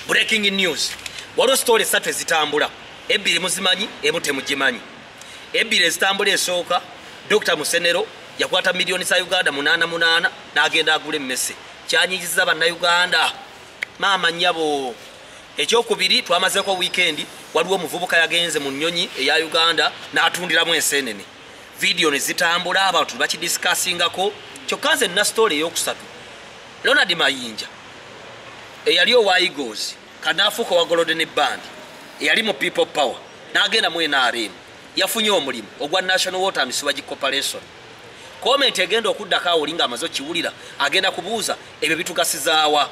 breaking news waliwo sitoola esatu ezitambula ebbiri muzimanyi emu temugimanyi ebbiri ezitambula esooka dr musenero yakwata miliyoni za uganda munaana munaana n'agenda agula emmese kyanyigiza bannayuganda maama nyabo ekyokubiri twamazeko wiikendi waliwo omuvubuka yagenze mu nnyonyi eya uganda n'atundiramu enseenene vidiyo ne zitambula abantu bakidisikaasingako kyokka nze nna sitoola eyokusatu Ronald Mayinja eyali owa Eagles kanaafuuka owa Golden Band eyali mu People Power n'agenda mu NRM yafunye omulimu ogwa National Water and Sewage Corporation. Komenti egenda okuddako awo olinga amaze okiwulira agenda kubuuza ebyo bitugasizaawa.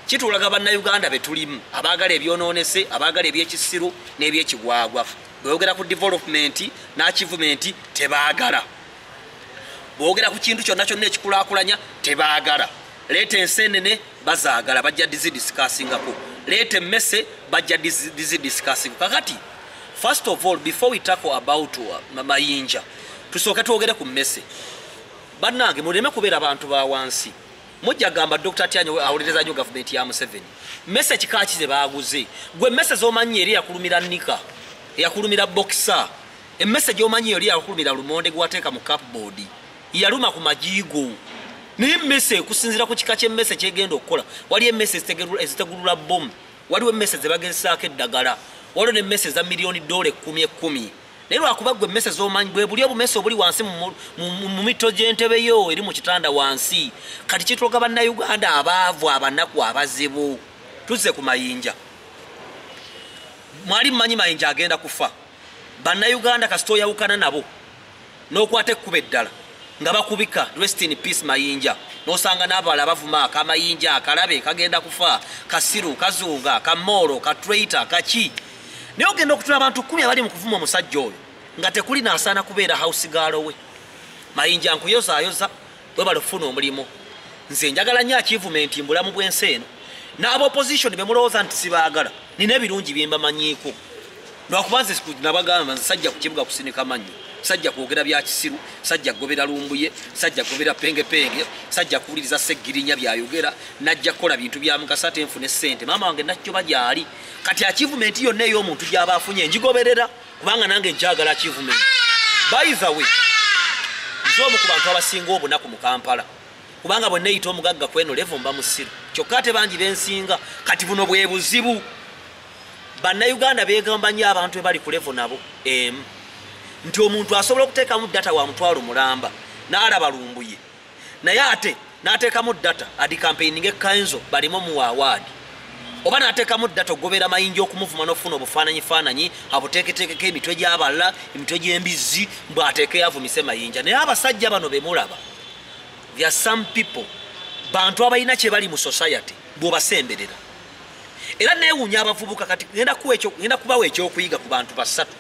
Kitulaga bannayuganda be tulimu abaagala ebyonoonese abaagala ebyekisiru n'ebyekigwagwa. Bweyogera ku development n'akivumenti tebaagala. bwogera ku kintu kyonna kyonna ekikulakulanya tebaagala leeta ensenene bazaagala bajja dizidisikaasingako leeta emmese bajja dizidisikaasingako kakati first of all before we tackle about uh, mayinja tusooke twogere ku mmese bannange muleme kubeera bantu ba wansi mujja gamba dr tyanyo awolereza nyo gavumenti ya museveni mese kikaki ze baaguze gwe mese zomanyi eri yakulumira nika eyakulumira bokisa Emmese gy'omanyi yali yakulumira lumonde gwe wateeka mu cupboard yaluma ku magi go naye emmese ekusinziira ku kika ky'emmese kyegenda okukola waliyo emmese ezitegulula bbomu waliwo emmese ze bagezesaako eddagala waliwo n'emmese eza miliyoni doola ekkumi ekkumi naye lwakuba gwe emmese z'omanyi bwe buli obumese obuli wansi mu mito gy'entebe yo eri mu kitanda wansi kati kitwoga bannayuganda abaavu abanaku abazibu tuzze ku mayinja mwali mumanyi mayinja agenda kufa bannayuganda kasita oyawukana nabo n'okwata ekkuba eddala nga bakubika rest in peace mayinja n'osanga n'abala bavuma akamayinja akalabe kagenda kufa kasiru kazunga kamoolo katreita kaki naye ogenda okutula abantu kumi abali mu kuvuma omusajja oyo nga tekuli naasaana kubeera house gaalo we mayinja nkuyozaayoza webale okufuna omulimu nze njagala nyo achievement mbulamu bwensi eno n'aba opposition bemulowooza nti sibaagala nina ebirungi byembamanyiiko lwakuba nze nabagamba nze sajja ku kibuga kusinika mannyo sajja kwogera bya kisiru sajja kugobera lumbuye sajja kugobera pengepenge sajja kuwuliriza seggirinya byayogera najja kukola bintu bya mukasa ate nfune ssente maama wange nakyoba gyali kati achievement yonna ey'omuntu gyaba afunye njigoberera kubanga nange njagala achievement by the way nze omu ku bantu abasinga obunaku mu kampala kubanga bwe neyita omugagga kweno levo mba musiru kyokka ate bangi bensinga kati buno bwe buzibu bannayuganda begamba nyo abantu bebali ku levo nabo emu nti omuntu asobola okuteekamu data wa mutwalo mulamba n'alaba lumbuye naye ate natekamu data adi campaigning ekanzo balimu mu award oba natekamu data ogobera mayinja okumuvuma nofuna obufananyi fananyi abuteketekeko emitwe gyaballa emitwe gyembizzi mbu ateke yavumise mayinja naye abasajja bano bemulaba there some people bantu abalina kyebali mu society bwobasemberera era newunya abavubuka kati ngenda kubawa ekyokuyiga ku bantu basatu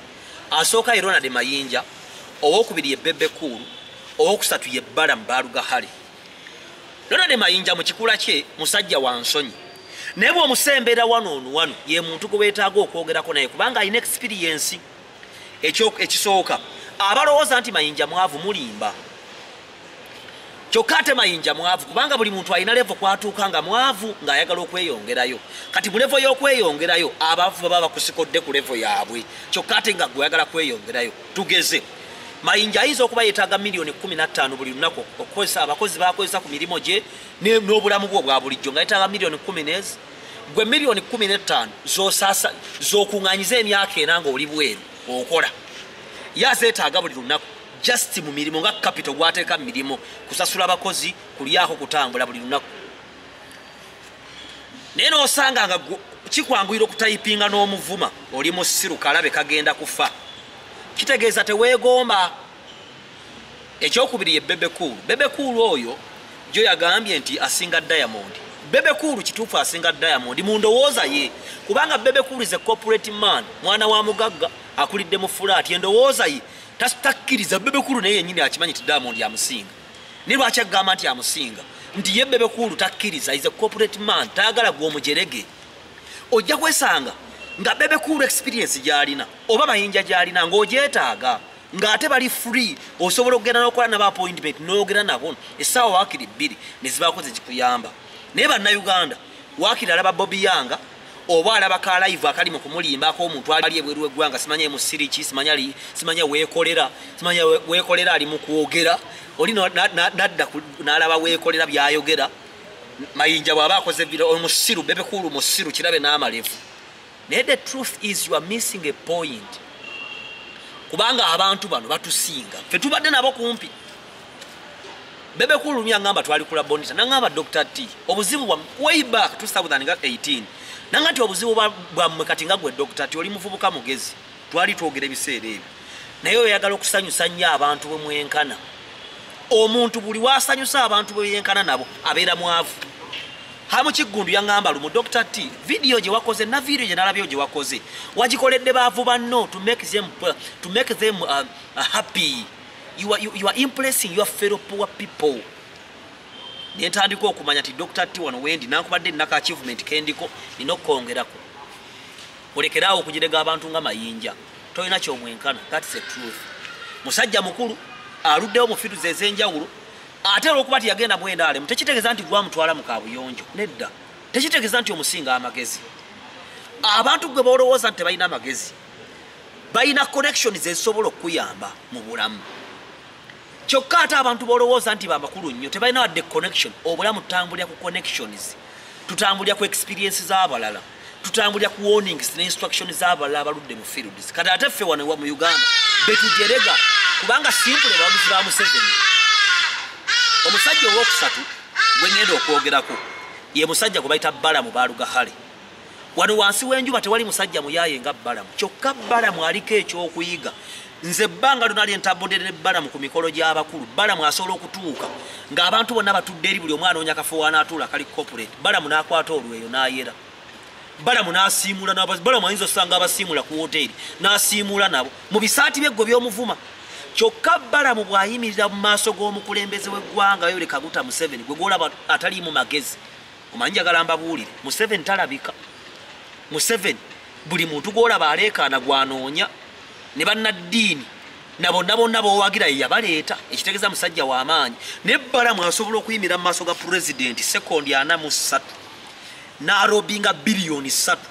Asooka ye Ronald Mayinja, owokubiri ye Bebe Cool, owokusatu ye Balaam Barugahare. Ronald Mayinja mu kikula kye musajja wa nsonyi naye bw'omusembera wano ono wano ye muntu gwe weetaaga okwogerako naye kubanga alina ekisipiriyensi ekisooka abalowooza nti Mayinja mwavu mulimba. kyokka ate mayinja mwavu kubanga buli muntu alina levo kwatuuka nga mwavu ng'ayagala okweyongerayo kati mu levo y'okweyongerayo abavu baba bakusikodde ku levo yaabwe kyokka ate nga gweyagala kweyongerayo tugeze mayinja ayinza okuba yetaaga miliyoni 15 buli lunaku okukozesa abakozi bakozesa ku mirimu gye n'obulamu bwe obwa bulijjo nga yetaaga miliyoni 1 gwe miliyoni 15 zosasa zokuŋanyiza emyaka ena ngaoli bweru okola ye azeetaaga buli lunaku just mu mirimu nga kapito gwateeka mu mirimu kusasula abakozi kulyako kutambula buli lunaku naye nosanga nga kikwanguyira okutayipinga n'omuvuma oli musiru kalabe kagenda kufa kitegeeza teweegomba ekyokubiri ye bebekuulu bebekuulu oyo jo yagambye nti asinga diamond bebekuulu kituufu asinga diamond mu ndowooza ye kubanga bebekuulu is a corporate man mwana wa mugagga akulidde mu fulaati endowooza ye takkiriza bebekulu naye yenyini akimanyi ti diamond amusinga naye lwaki agamba nti amusinga nti ye bebekulu takkiriza is a corporate man tayagala gwe omujerege ojja kwesanga nga bebekulu experience gyalina oba mayinja gyalina ngaogyetaaga ngaate bali free osobola okugenda nokola naba appointment noyogera nabo esaawa wakiri bbiri nezibaako zekikuyamba naye bannauganda wakiri alaba bobi yanga oba alaba ka live akali mu kumulimba ko omuntu ali ebweru wegwanga simanya mu siri ki simanya li simanya wekolera simanya wekolera ali mu kwogera oli no nadda nalaba wekolera byayogera mayinja bwaba akoze bira omusiru bebe kulu musiru kirabe n'amalevu naye the truth is you are missing a point kubanga abantu bano batusinga fe tubadde nabo kumpi bebe kulu mya ngamba twali kula bonita na ngamba dr t obuzibu bwa way back 2018 na ngati obuzibu bwa bwa mkati nga gwe dr t oli mufubuka mugezi twali twogera ebiseera ebyo naye oyagala okusanyusa nnyo abantu bwe mwenkana omuntu buli wasanyusa abantu bwe yenkana nabo abeera mwavu hamu kiggundu yaŋŋamba lumu dr t vidiyo gye wakoze na vidiyo gye nalabyo gye wakoze wagikoledde baavu banno to make them, uh, to make them uh, uh, happy you are, you, you are impressing your fellow poor people nentandika okumanya ti dr t wano wendi nankubadde naka achievement kendiko nina okukongerako olekeraawo okugirega abantu nga mayinja tolina kyomwenkana thats the truth musajja mukulu aluddewo mu fitu ze ezenjawulo ate olwokuba ti yagenda mwendaalemu tekitegeeza nti gwamutwala mu kabuyonjo nedda tekitegeeza nti omusinga amagezi abantu gwe bolowooza nti tebalina amagezi balina connection zezisobola okukuyamba mu bulamu kyokka ate abantu bolowooza nti bamakulu nnyo tebalina wadde connection obulamu tutambulira ku connections tutambulira ku experience z'abalala tutambulira ku warnings ne instruction z'abalala abaludde mu fields kati ate ffe wano mu uganda betujerega kubanga simpule bawagizi ba museveni omusajja owokusatu gwengenda okwogerako ye musajja gwe bayita balamu balugahale wano wansi w'enjuba tewali musajja muyaaye nga balamu kyokka balamu aliko ekyokuyiga nze ebbanga lona lyentabudde ne balamu ku mikolo gy'abakulu balamu asobola okutuuka ng'abantu bonna batudde eri buli omu anoonya kafo wanaatuula kali corporate balamu n'akwata olweyo n'ayera balamu n'asiimuula balamu ayinza osanga abasiimuula ku woteeri n'asiimuula nabo mu bisaati byeggwe by'omuvuma kyokka balamu bw'ayimirira mu maaso g'omukulembeze w'eggwanga yoleka guta museveni gwe gwolaba ataliimu magezi omanyi njagala mbabuulire museveni talabika museveni buli muntu gwolaba aleekaana gwanoonya ne bannaddiini na bonna bonna bowagira ye yabaleeta ekitegeeza musajja w'amaanyi naye bbala mwasobola okuyimira mu maaso ga pulezidenti sekondi ana mu ssatu n'arobi nga biliyoni ssatu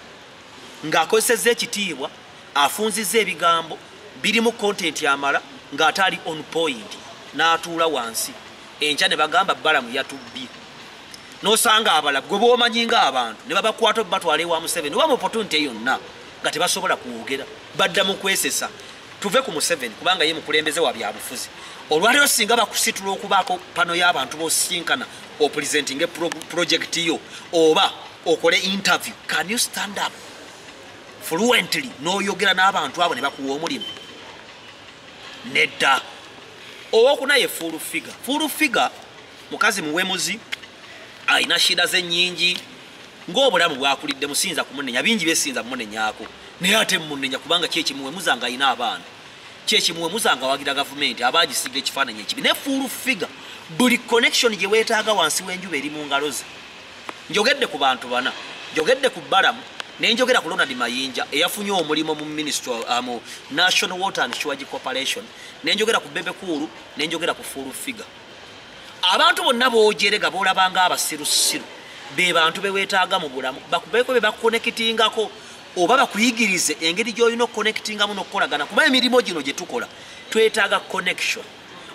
ng'akozesezza ekitiibwa afunzizza ebigambo birimu kontenti amala ng'ate ali on point n'atuula wansi enkya ne bagamba bbalamu yatubbye nosanga abala gwe bomanyi nga abantu ne babakwata obatwala ewa museveni oba mupotunte yonna nga tebasobola kwogera badda mu kwesesa tuve ku museveni kubanga ye mukulembeze wa byabufuzi olwaliro singa bakusitula okubaako pano y'abantu bosinkana opulizenti nga purojekiti yo oba okole interview can you stand up fluently n'oyogera n'abantu abo ne bakuwa omulimu nedda owokuna ye full figure full figure mukazi muwemuzi alina shida ze nyingi ng'obulamu bwakulidde musinza kumunenya bingi byesinza munenyako naye ate munenya kubanga kyekimuwemuza nga alina abaana kyekimuwemuza nga awagira gavumenti aba agisiga ekifaananyi ekibi ne full figure buli connection gye weetaaga wansi w'enjuba eri mu ngalo ze njogedde ku bantu bana njogedde ku balamu nenjogera ku ronald mayinja eyafunye omulimu mu ministry uh, mu national water and shwage corporation nenjogera ku bebekuulu nenjogera ku full figure abantu bonna bojerega bolabanga abasirusiru be bantu bewetaaga mu bulamu bakubeeko be bakukonekitingako oba bakuyigirize engeri gy'olina okukonekitingamu n'okukolagana kuba emirimu gino gye tukola twetaaga connection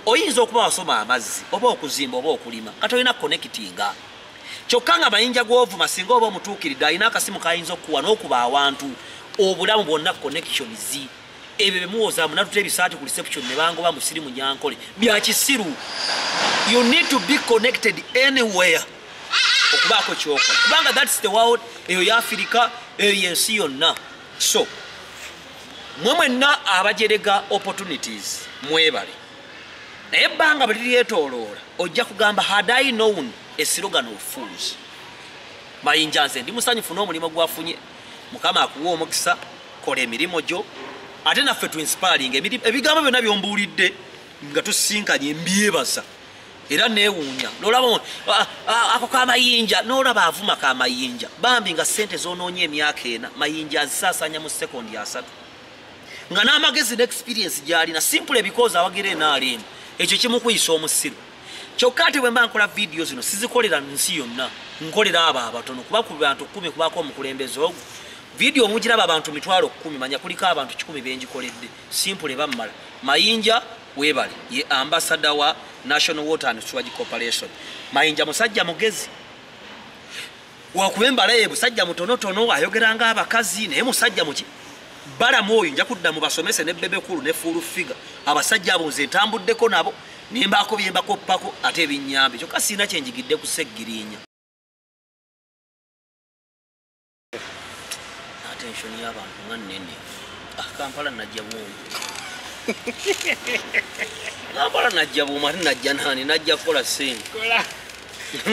oyinza okuba wasoma amazzi oba okuzimba oba okulima nga tolina konekitinga kyokka nga mayinja gw'ovuma singa oba omutuukiridde alina akasimu kayinza okukuwa n'okuba awantu obulamu bwonna connections ebyo bemuwoza munatuta ebisaati ku reception nebangoba musiri munyankole byakisiru you need to be connected anywhere okubaako kyokola kubanga thats the world eyo yafirika eyo yensi yonna so mwe mwenna abajerega opportunities mwebale naye ebbanga bweliryetoloola ojja kugamba had i known a slogan of fools mayinja nze ndi musanyufu n'omulimu gwafunye mukama akuwa omukisa kola emirimu gyo ate naffe tu inspiring ebigambo byonna byombuulidde nga tusisinkanye mbyebaza era newuunya nolaba ako kamayinja nolaba avuma kamayinja bambi nga sente zonoonya emyaka ena mayinja azisaasanya mu sekondi asatu nga n'amagezi ne experience gyalina simpule bikozi awagira enaalemu ekyo kimukuyisa omusiru kyokka ate bwe mba nkola vidiyo zino sizikolera nsi yonna nkolera abo abatono kuba ku bantu kkumi kubaako omukulembeze ogwo vidiyo omugiraba abantu mitwalo kkumi manya kuliko abantu kikumi bengikoledde simpule bammala mayinja webale ye ambasada wa national water and swage corporation mayinja musajja mugezi wakuba embala ye musajja mutonotono ayogera nga abakazi naye musajja muki balamu oyo nja kudda mubasomese ne bebekulu ne fuulu figa abasajja abo nze ntambuddeko nabo nembaako byembakoppako ate ebinyambe kyokka siina kyenjigidde ku seggirinya attention y'abantu nga nene ah, kampala najja bwomu kampala najja bwomu ate najja nani najja kukola sente